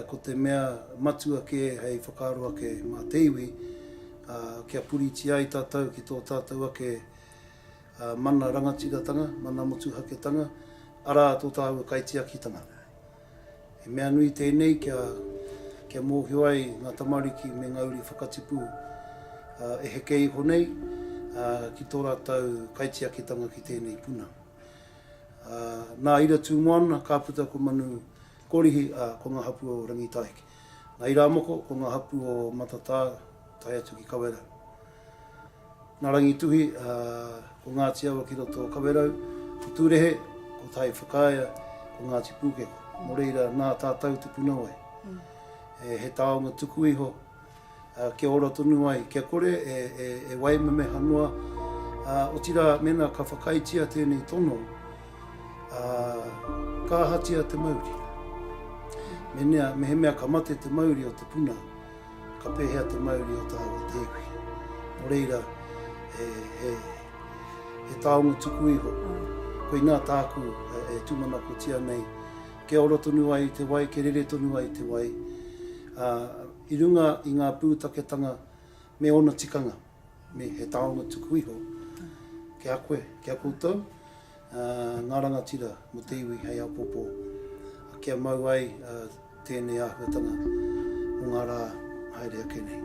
Ko te mea matua kē hei whakaaro ake mā te iwi, kia puritia ai tātou ki tō tātou ake mana rangatiratanga, mana motuhaketanga, arā, tō tāua kaitiakitanga. He mea nui tēnei kia mōhio ai ngā tamariki me ngā uri whakatipu e heke iho nei ki tō rātou kaitiakitanga ki tēnei puna. Nā Ira Tūmoana ka puta ko Manu Korihi, ā, ko ngā hapū o Rangitāiki. Nā Irāmoko, ko ngā hapū o Matatā tae atu ki Kawerau. Nā Rangituhi, ā, ko Ngāti Awa ki roto o Kawerau. Ko Tūrehe, ko Tai Whakaea, ko Ngāti Pūkeko. Nō reira, nā tātau te punawai. He taonga tuku iho. Kia ora tonu ai, kia kore e waimemeha noa, otirā mēnā ka whakaaetia tēnei tono, ka ahatia te mauri? Mēnea, mehemea ka mate te mauri o te puna, ka pēhea te mauri o tāua tēpu? Nō reira, he taonga tuku iho, koinā tāku e tūmanakotia nei, kia ora tonu ai te wai, kia rere tonu ai te wai. ā, i runga i ngā pūtaketanga me ōna tikanga, me he taonga tuku iho ki a koe, ki a koutou, ā, ngā rangatira mō te iwi hei apopo, ā, kia mau ai tēnei āhuatanga mō ngā rā haere ake nei.